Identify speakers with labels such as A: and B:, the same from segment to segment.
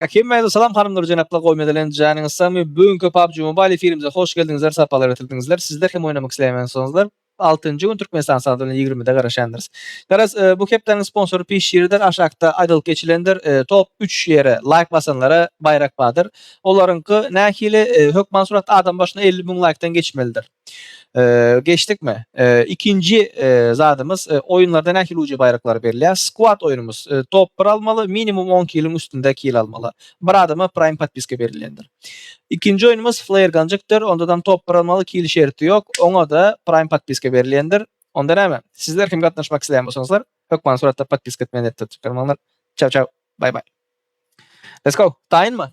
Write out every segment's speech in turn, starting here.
A: Hemmäňize salam hanymlar jenaplar gowy mezelenç janyňyz sagmy bu günki PUBG Mobile efirimize hoş geldiňizler sapalar getirdiňizler sizler hem oýnamak isleýänsoňuzlar altynjy gün Türkmenistan sagaty bilen ýigrimide garaşýandyrs garaz bu hepdäniň sponsory pişiridir aşakda aýdylyp geçilendir top üç ýere laýk basanlara baýrak badyr olaryňky nähili hökman surat adam başyna elli müň laýkdan geçmelidir. Geçdikmi? Ikinji zadymyz oýunlarda nähili uca baýraklar berilýär? Squad oýunumyz. Top bir almaly, minimum on killiň üstünde kill almaly. Bir adama Prime podpiska berilýändir. Ikinji oýunumyz Flare Gunjikdir. Ondadam top bir almaly, kill şerti ýok. Oňa-da Prime podpiska berilýändir. Onda näme? Sizler kim gatnaşmak isleýän bolsaňyzlar, hökman suratda podpiska etmegi netde tutýarmanlar. Çaw çaw. Baý baý. Let's go. Taýynmy?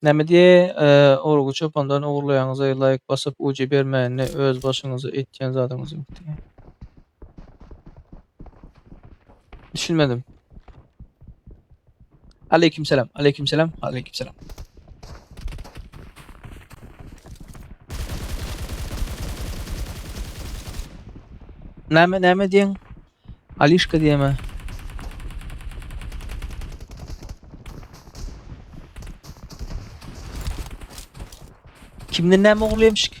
A: Näme diýe, urgy çopandan ogurlaýaňyza laýk basyp uji bermäinde öz başyňyza etýän zadyňyz ýok diýýä. Düşünmedim. Aleýkim selam, aleýkim selam, aleýkim selam. Näme, näme diýen? Alişka diýeme. Kimden näme ogurlaýmyşyk?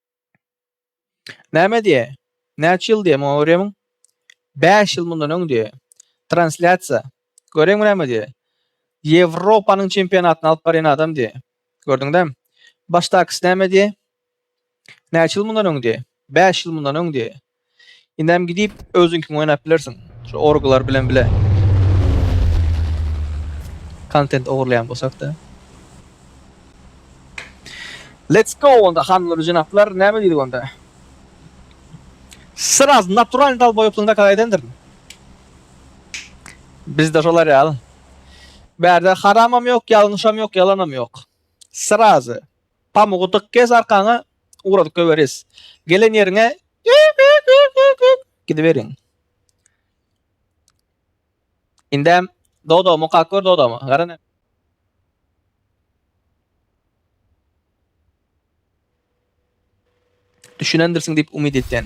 A: Näme diýýä? Näçe ýyl diýýä muňa görýärmiň? Bäş ýyl mundan öň diýýä. Translýasiýa. Görýäňmi näme diýýä? Ýewropanyň çempionatyny alyp barýan adam diýýä. Gördüňdä? Başdakysy näme diýýä? Näçe ýyl mundan öň diýýä? Bäş ýyl mundan öň diýýä. Indem gidip özüňkiň oýnap bilersiň. Şu orglar bilen bile. Kontent ogurlaýan bolsakda. Let's go onda hanlar jenaplar näme diýdik onda. Sraz natural dal boýuplygyňda kaza edendirin. Bizde şolar ýaly. Bärde haramam ýok, ýalňyşam ýok, ýalanam ýok. Srazy. Pamugy dyk gez arkaňa ugradyp göweris. Gelen ýeriňe gidiberiň. Indem Dodo mukak gör Dodomy. Gara ne. Düşünendirsiň diýip umyt etýän.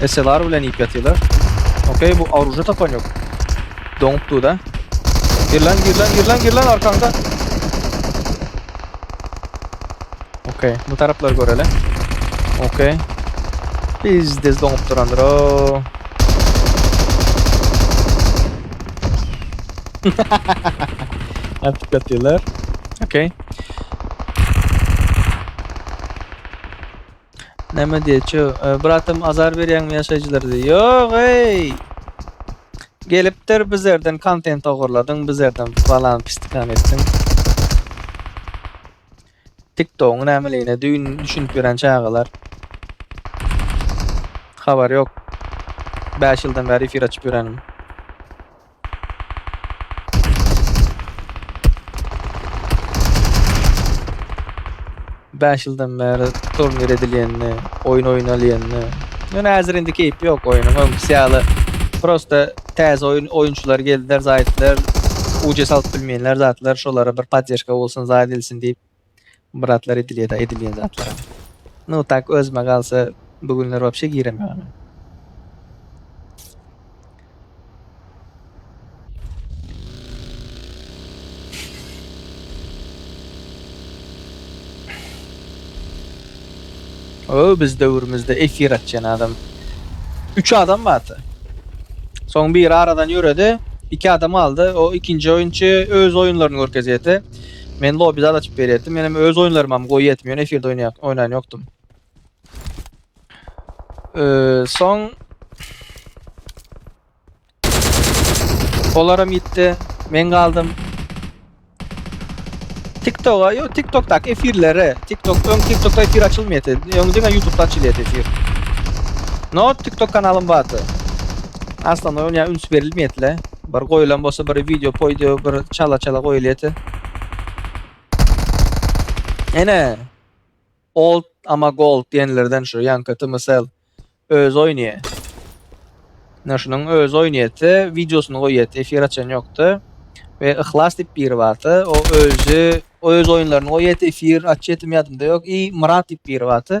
A: SLR bilen iýip ýatyrlar. Okey bu oruža tapan ýok. Doňup duda. Gir lan gir lan gir lan gir lan arkaňda. Okey bu taraplar göreli. Okey. Biz de doňup durandyr o. Atyp ýatyrlar. Okey. Näme diýä, çö, bratam azar berýäňmi ýaşaýjylara diýä. Ýog-eý! Gelipdir bizerden kontent ogurladyň, bizerden balan pistikan etdiň. TikTogyň nämeligine düýn düşünip ýören çagalar. Habary ýok. Bäş ýyldan bäri efir açyp ýörenim. Bäş ýyldan bäri turnir edilýänini, oýun oýnalýanyny. Ýöne häzir indi keýp ýok oýnuň. Öňküsi ýaly prosta täze oýun oýunçylar geldiler, zaýtlar uce salyp bilmeýänler zatlar şolara bir poddeşka bolsun, zaýt edilsin diýip. Muratlar edilýeda edilýän zatlaram. No tak özüme galsa bu günler wapşe girem ýogyn. Öö biz döwrümizde efir açýan adam. Üç adam bardy. Soň biri aradan ýöredi. Iki adam aldy. O ikinji oýunçy öz oýunlaryny görkezýärdi. Men lobby zat açyp berýärdim. Menem öz oýunlarymam goýýardim. Ýöne efirde oýnaýar, oýnan ýokdum. Ee, soň Olaram gitdi. Men galdym. TikTok'a, yo TikTok'daky efirlere. TikTok, öň TikTok'da efir açylmaýardy. Öň diňe YouTube'da açylýardy efir. No, TikTok kanalym bardy. Aslında oýna üns berilmeýärdi. Bir goýulan bolsa bir video poýdýo bir çala çala goýulýete. Ene Old ama Gold diýenlerden şu Yanka Tmsel öz oýnaýa. Ne şunuň öz oýnaýete, videosyny goýýete, efir açan ýokda. Ve Ihlas diýip biri barda, o özü öz oýunlaryny goýýete, efir açýetim ýadymda ýok. I Murat diýip biri barda,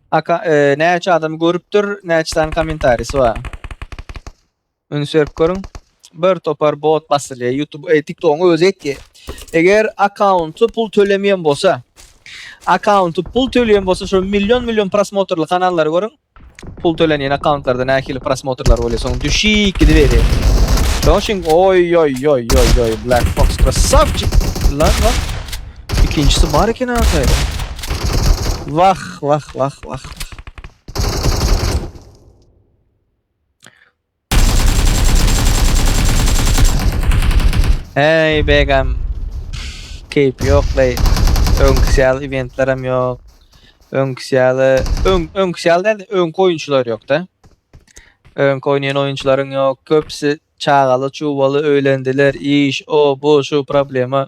A: Aka, e, näçe adam görüpdir, näçe sany kommentarisi bar. Üns berip görüň. Bir topar bot basylýar. YouTube, e, TikTok-yň özi etdi. Eger akkaunty pul tölemeýän bolsa, akkaunty pul töleýän bolsa, şu million million prosmotrly kanallary görüň. Pul tölenýän akkauntlarda nähili prosmotrlar bolýar, soň düşik gidiberýär. Şoň üçin, oý, oý, oý, oý, oý, Black Fox krasavçik! Lan, lan. Ikinjisi bar eken ahyry. Wah wah wah wah. Hey begam. Keyp yok lay. Öňküsi ýaly eventlerim yok. Öňküsi ýaly öň öňküsi ýaly däl, öňki oýunçylar ýok da. Öňki oýnaýan oýunçylaryň ýok. Köpsi çagaly, çuwaly, öýlendiler, iş, o, bu, şu problema.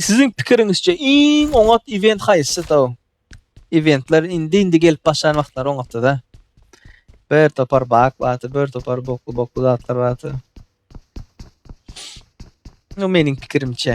A: Siziň pikiriňizçe iň oňat event haýsy da? Eventler indi indi gelip başlan wagtlary oňatdy da. Bir topar bak bardy, bir topar bokly bokly zatlar bardy. No meniň pikirimçe.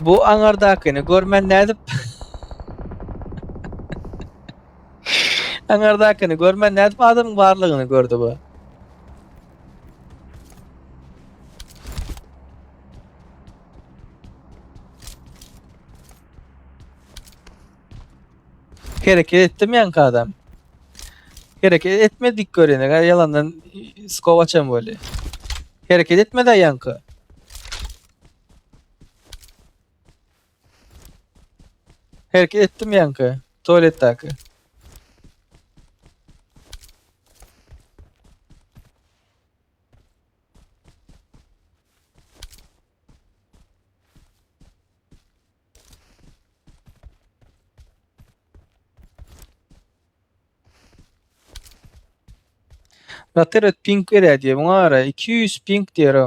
A: Bu aňardakyny görmän nädip Aňardakyny görmän nädip adamyň barlygyny gördi bu. Hereket etdim yankı adam. Hereket etmedik görene kadar yalandan skovaçam böyle. Hereket etmedi yankı. Hereket etdim yankı. Tuvaletteki. Nateret ping berýär diýe. Muňa ara 200 ping diýer o.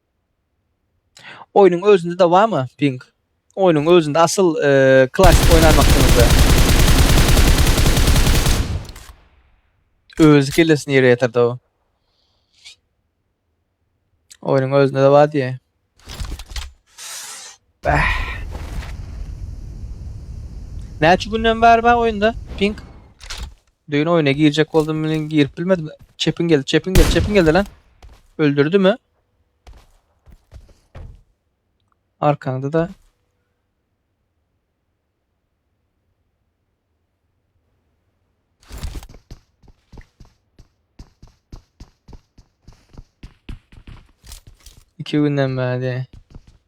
A: Oýnuň özünde de barmy ping? Oýnuň özünde asyl eee, klasik oýnan wagtyňyzda. Özi kellesini ýere ýatyrdy o. Oýnuň özünde de bar diýýär. Bäh. Näçe günden bäri bar oýunda ping? Düýn oýna girjek boldum, bilen girip bilmedim. Çepin geldi, çepin geldi, çepin geldi lan. Öldürdimi? Arkaňda-da iki günden bäri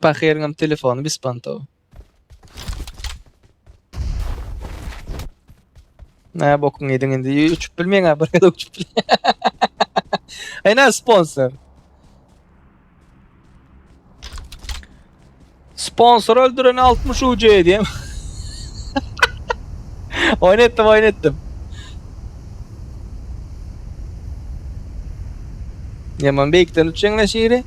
A: Pahyryňam telefony bispanto. Ne bokuň ýediň indi uçup bilmeýin ha bir gezek uçup bil. Aýna sponsor. Sponsor öldüren 60 UC edýän. oyun etdim, oyun etdim. Yaman beýikden uçýan ne şiiri?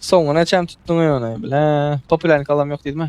A: Soňuna çem tutdun öýüne bile. Popülerlik alam yok diýdimi?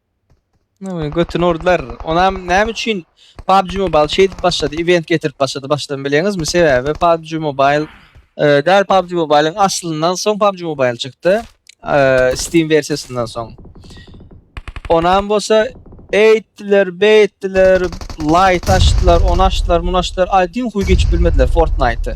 A: Nowy götüni urdylar. Onam näme üçin PUBG Mobile şeýdip başlady, event getirip başlady başdan bilýäňizmi? Sebäbi PUBG Mobile e, däl PUBG Mobile'yň aslyndan soň PUBG Mobile çykdy. E, Steam versiýasyndan soň. Onam bolsa eýtdiler, beýtdiler, light açdylar, onu açdylar, muny açdylar. Aýdyň huy geçip bilmediler Fortnite'y.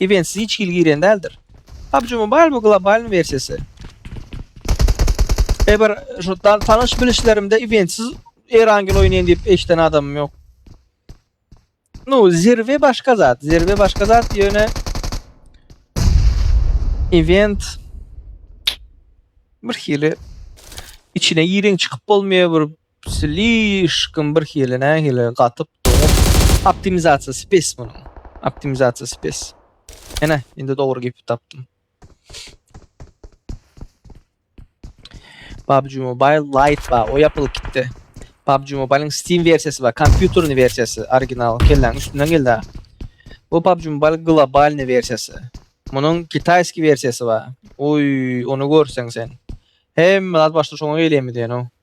A: Eventsiz hiç hili girýän däldir. PUBG Mobile bu globalnyň wersiýasy. Eber şu tanyş bilişlerimde eventsiz Erangel oýnaýan diýip eşden adamym ýok. No, zirwe başga zat, zirwe başga zat ýöne event bir hili içine gireň çykyp bolmaýar bir Slyşkam bir hili nähili gatyp doňup. Optimizasiýasy pes munuň. Optimizasiýasy pes. Ene, indi dogry gepip tapdym. PUBG Mobile Lite ba, o yapylyp gitdi. PUBG Mobile'in Steam versiyası ba, kompýuterli versiyası, original, kelläň üstünden geldi. Bu PUBG Mobile globalny versiyası. Munuň kitayski versiyası ba. Oy, onu görsen sen. Hem zat başda şoňa gelýärmi diýen o.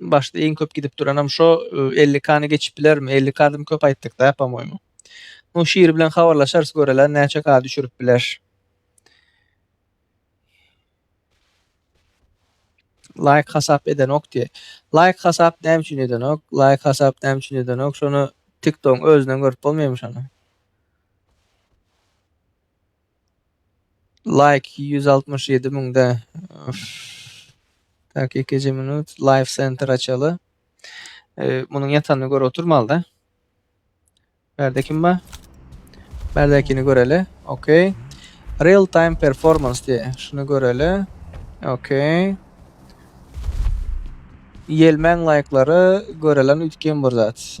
A: Başda iň köp gidip duranam şo 50 kany geçip bilermi? 50 kadym köp aýtdyk da pamoýmy. Nu şir bilen habarlaşarys göreler näçe ka düşürip biler. Laýk hasap edenok diye. Laýk hasap näme üçin edenok? Laýk hasap näme üçin edenok? Şony TikTok özünden görüp bolmaýmy şony? Like ýüz altmyş ýedi müňde. Üf. Taky ikinji minut. Live center açaly. Ee, munuň ýatanyny görüp oturmalyda. Bärde kim bar? Bärdäkini göreli. Okey. Real time performance diye. Şunu göreli. Okey. Yelmen like'ları görelen ütken bir zat.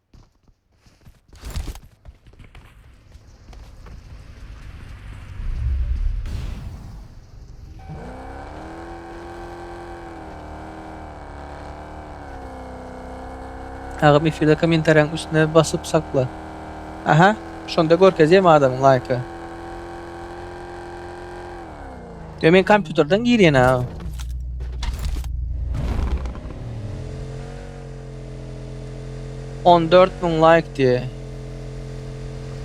A: Agam efirde komentariýaň üstüne basyp sakla. Aha, şonda görkezýär adamyň laýka. Yo men kompýuterden girýän aga. On dört müň laýk diýe.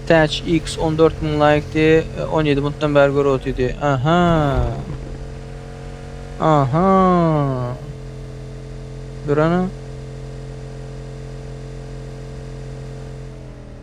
A: Täç X on dört müň laýk diýe. On ýedi minutdan bäri görüp otyr diýe. Aha. Aha. Durana.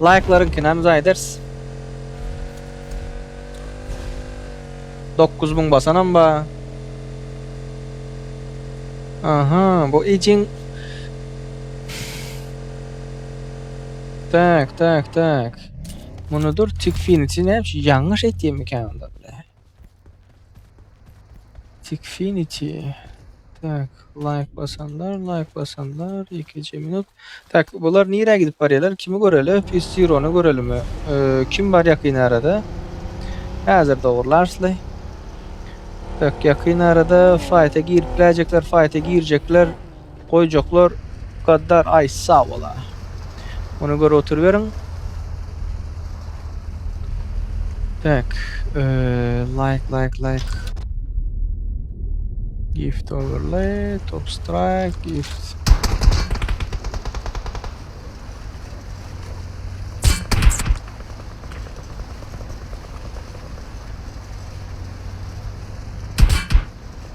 A: Laýklaryňkyny hem jaý ederis. Dokuz müň basanam bar. Aha, bu icin. Tak, tak, tak. Munudyr tikfiniçi näme şu ýalňyş etýänmikä onda bile. Tikfinity tak laýk basanlar laýk basanlar ikinji minut tak bular nirä gidip barýarlar kimi göreli pis zirony görelimi kim bar ýakyn arada häzir dogurlarsly tak ýakyn arada faýta girip biläjekler faýta girjekler Goýjaklar Gaddar Aýs sag bola. Ony görüp oturyberiň. Tak, like like like. Gift overlay, top strike, gift.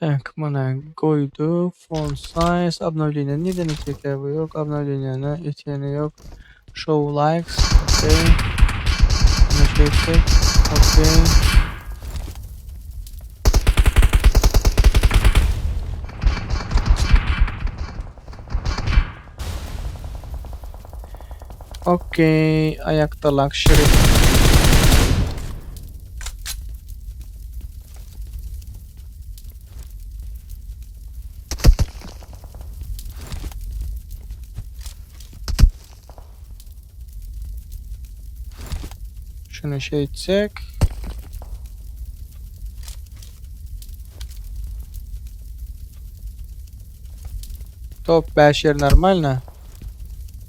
A: Tak mana goýduk font size obnowleniýa nirden etjek ya bu ýok obnowleniýany etýäni ýok show likes okey muny çekdik okey okey aýakda lakşeri. Şunu şey etsek. Top 5 yer normalno.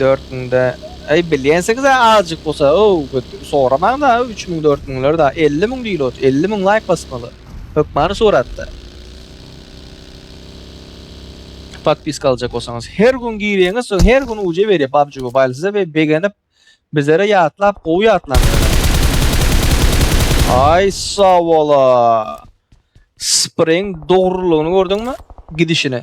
A: Dört müňde eý bilýänsiňizä azjyk bolsa ow köp soramaňda üç müň dört müňler da elli müň diýil ot elli müň laýk basmaly hökmany suratda podpiska aljak bolsaňyz her gün girýäňiz soň her gün uce berýär pubg mobile size we begenip bizlere ýatlap gowy ýatlaňyz aý sawala spring dogrulygyny gördüňmi gidişini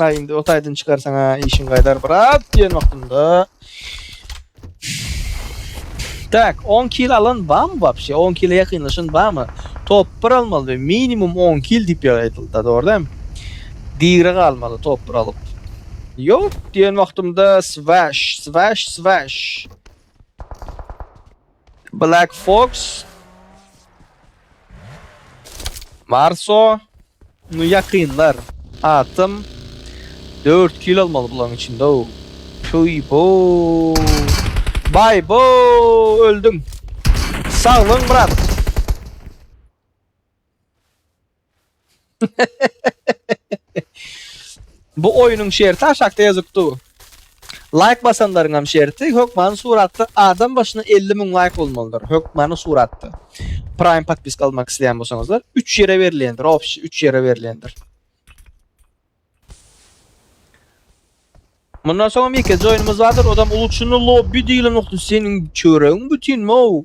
A: Aý indi ot aýdyn çykar saňa işiň gaýdar brat diýen wagtynda. Tak, 10 kil alan bam wapşe? 10 kile ýakynlaşan bamy? Top 1 almaly we minimum 10 kil diýip ýaýdylda, dogry däm? Digre galmaly top 1 alyp. Ýok diýen wagtymda swash, swash, swash. Black Fox. Marso. Ny ýakynlar. Atym. Dört kill almaly bularyň içinde o. Tüy bo. Bay bo. Öldüm. Sag bol Murat. Bu oýunyň şerti aşakda ýazyp dur. Laýk basanlaryňam şerti hökmany suratda adam başyna elli müň laýk bolmalydyr. Hökmany suratda. Prime podpiska almak isleýän bolsaňyzlar üç ýere berilýändir. Obşi üç ýere berilýändir. Mundan soňam ýekeje oýnumyz bardyr. Odam uluçyny lobby diýilen nokta seniň çöregiň bütinmi ow?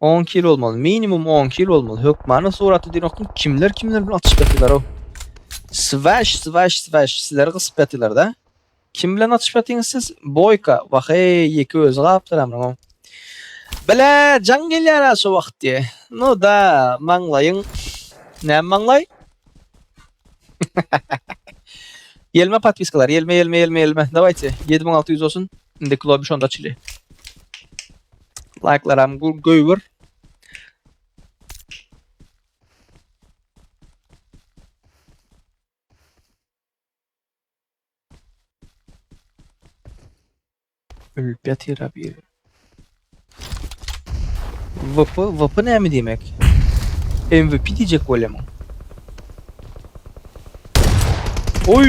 A: On iki ýyl bolmaly, minimum on iki ýyl bolmaly. Hökmany suratda diýenokmy? Kimler kimler bilen atyşyp ýatylar-ow? Swaş, swaş, swaş, sizleri gysyp ýatylar-da. Kim bilen atyşyp ýatyňyz siz? Boýka, wah-eý, ýeke özi galypdyr amryň-ow. Bile, jaň gelýär-ä şu wagt diýe. Nu da, maňlaýyň. Näme maňlaý? Ýelme podpiskalar, ýelme, ýelme, ýelme, ýelme. Dawaýte, ýedi müň alty ýüz bolsun. Indi klobi şonda açyly. Laýklaram göýbür. Ölüp ýatyr abi. VP, VP näme diýmek? MVP diýjek bolýarmyň? Oy!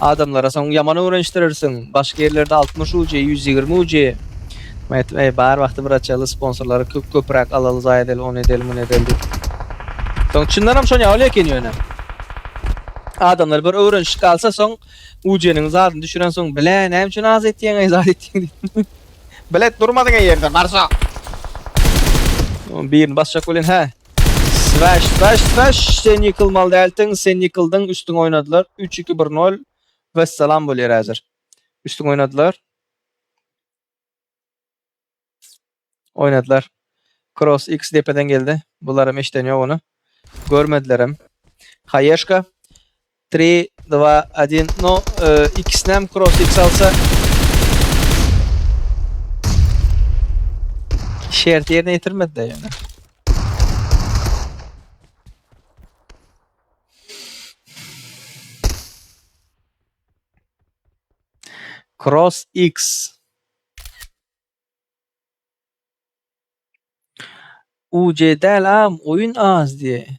A: Adamlara soň ýaman öwrenişdirersiň, başga ýerlerde altmyş uji, ýüz ýigrimi uji. Men aýtdym, Äý, bar wagty bir açaly, sponsorlary köp-köpräk alaly, zaýa edeli, ony edeli, muny edeli diýip. Soň çyndan hem şon ýaly eken ýöne. Adamlar bir öwrenişip galsa soň ujiniň zadyny düşüren soň, Bile, näme üçin az etýeň-eý, zat etýeň diýip. Bilet durmadyň-eý ýerde, barsa. Birini basjak welin, hä. Swash swash swash sen ýykylmaly dälsiň sen ýykyldyň üstüňe oýnadylar üç iki bir nol wessalam bolýar häzir üstüňe oýnadylar oýnadylar kross x depeden geldi bularam eşiden ýok ony görmedilerem haýeşka Tri, dva, odin, no, ikisinem kross iks alsa şerti ýerine ýetirmedi-de ýöne. Cross X. UC del am oyun az diye.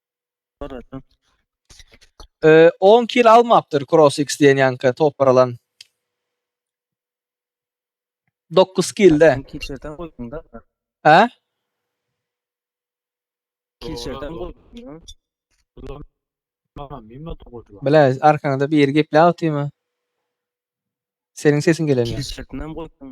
A: Ee, 10 kil almapdyr Cross X diýen ýanka topar alan. 9 kilde. Kilçerden goýdum da. Hä? Kilçerden goýdum. Bile, arkaňda bir ýeri gepläp otyrmy? Seniň sesiň gelenýär. Kilçerden goýdum.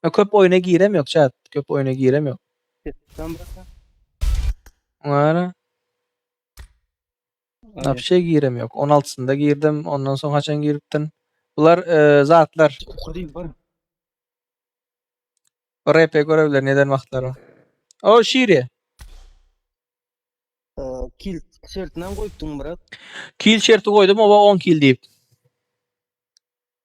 A: Ýa köp oýuna girem ýok chat. Köp oýuna girem ýok. Ses tutan brata. Ňara. Aýa. Napşe girem ýok. 16-synda girdim. Ondan soň haçan giripdin? Bular e, zatlar. Okur değil var. RP görevler neden wagtlary. O şiri. Ee, Kil tişertinden koyuptun brat. Kil şerti goýdum oba 10 kil diýip.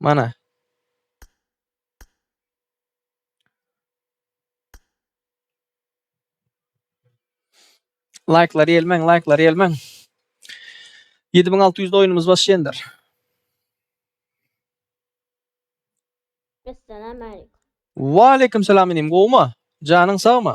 A: Mana. Laýklar ýelmeň, laýklar ýelmeň. 7600 de oýnumyz başlaýandyr. Esselamu aleyküm. Wa aleyküm salam inim, gowumy? Janyň sagmy?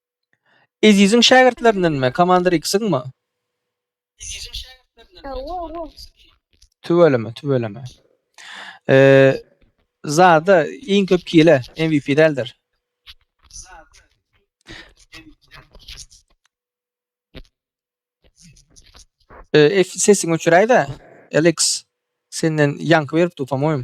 A: Eziziň şägirtlerindenmi? Komandir X-iňmi? Hawa, hawa. Tüweleme, tüweleme. Eee, zada iň köp kile MVP däldir. Eee, F sesiňi öçüräýdä. Alex, senden ýaňky beripdi, po-moýem.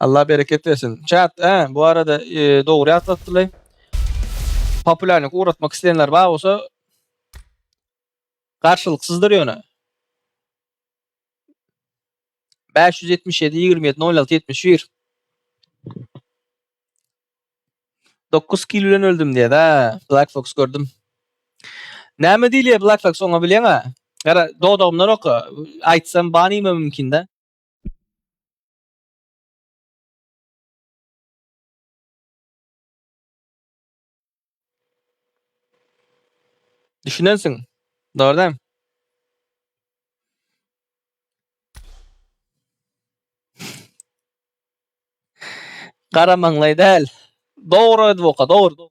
A: Allah bereket bersin. Chat, hä, bu arada e, dogry ýatlatdylar. Populärlik ugratmak isleýänler bar bolsa garşylyksyzdyr ýöne. 577 27 06 71 9 kil bilen öldüm diýär. Ha, Black Fox gördüm. Näme diýilýär Black Fox oňa bilýäňä? Gara, dodagymdan oka. Aýtsam banime mümkin-de. Düşünensiň, dogry däl? Garamaňlaý däl. Dogry edip oka, dogry, dogry.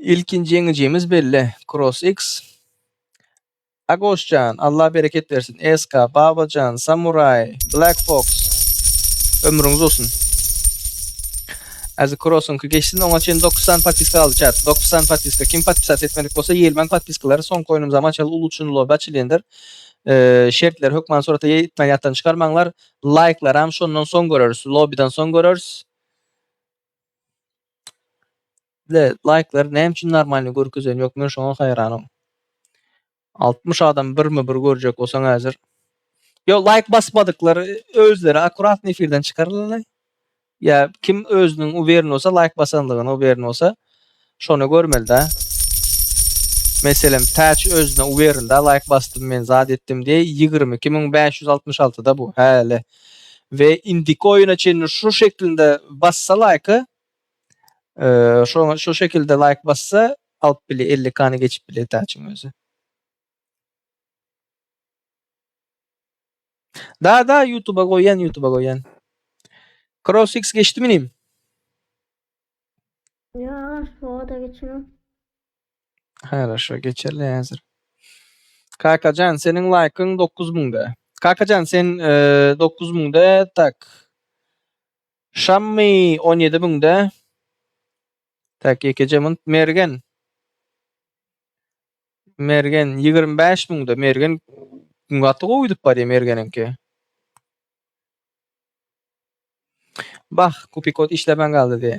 A: Ilkinji ýeňijimiz belli. Cross X. Agosjan, Allah bereket bersin. SK, Babajan, Samurai, Black Fox. Ömrüňiz olsun. Azi Cross'unki geçsin. Oňa çen 9 san patiska aldı çat. 9 san patiska. Kim patpisat etmedik bolsa ýelmen patiskalary son koýnum zaman çal ulu üçin lobi açylýandyr. Ee, şertler hökman surata ýetmän ýatdan çykarmaňlar. Laýklaram şondan soň göreris. Lobiden soň göreris. Ine laýklary näme üçin normalny görkezen ýok men şoňa haýranam. Altmyş adam birme bir görjek bolsaň häzir. Ýok laýk basmadyklar özleri akkuratny efirden çykarylany. Ýa kim özüniň uwern bolsa laýk basanlygyna uwern bolsa. Şony görmelidä. Meselem täç özüne uberindä laýk basdym men zat etdim diýe ýigrimi iki müň bäş ýüz altmyş alty da bu häli we indiki oýuna çenli şu şeklinde bassa laýka şu şekilde laýk bassa alyp bilýä elli kany geçip bilýä täçiň özi. Da da ýutuba goýýan ýutuba goýýan. Cross X geçdimi inim? Ýa, oda geçiňo. Haraşo geçerli hazir. Kakajan senin like'ın 9000'de. Kakajan sen e, 9000'de tak. Şammy 17000'de. Tak yekejemin Mergen. Mergen 25000'de. Mergen gaty gowy gidip barýar Mergeninki. Bah, kupikod işlemän galdy diýe.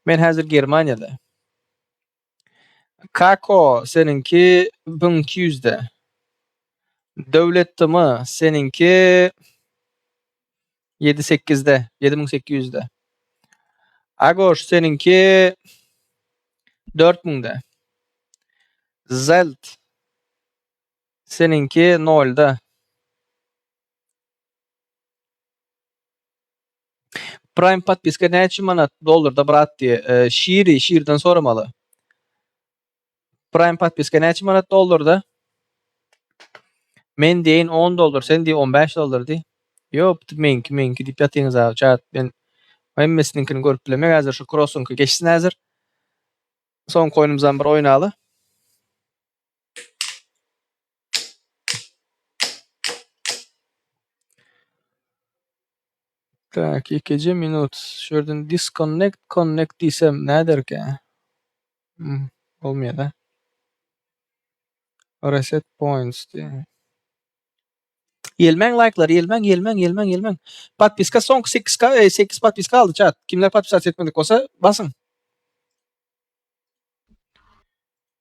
A: Men häzir Germaniýada. Kako, seniňki bin iki ýüzde. Döwletdimi, seniňki ýedi-sekizde, ýedi müň sekiz ýüzde. Agoş, seniňki dört müňde. Zelt, seniňki nolda. Prime podpiska näçe manat dollarda brat diýe. Ee, Şiri, Şirden soramaly. Prime podpiska näçe manat dollarda? Men diýen 10 dollar, sen diýen 15 dollar diý. Ýok, bu meňki, meňki diýip ýatyňyz abi, çat. Men hemmesiniňkini görüp bilemok. Häzir şu krossuňky geçsin häzir. Soňky oýnumyzam bir oýnaly. Tak, ikiji minut. Şu ýerden disconnect, connect diýsem näderkä? Hmm, bolmaýar-a. Reset points diýýär. Ýelmäň laýklar, ýelmäň, ýelmäň, ýelmäň, ýelmäň. Podpiska soňky sekiz ka, e, sekiz podpiska galdy çat. Kimler podpisasiýa etmedik bolsa, basyň.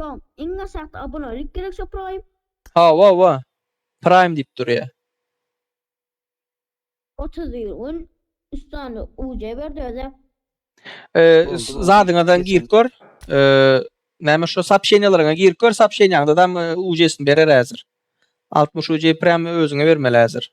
A: Soň iň aşakda abonelik gerek şo prime. Hawa wa prime diyip durya. Otuz bir gün üstande UC berdi öze. Zadyňadan girip gör. Näme şu sapşenýalaryňa girip gör, sapşenýaňda dam UC-sini berer häzir. 60 UC prime özüňe bermeli häzir.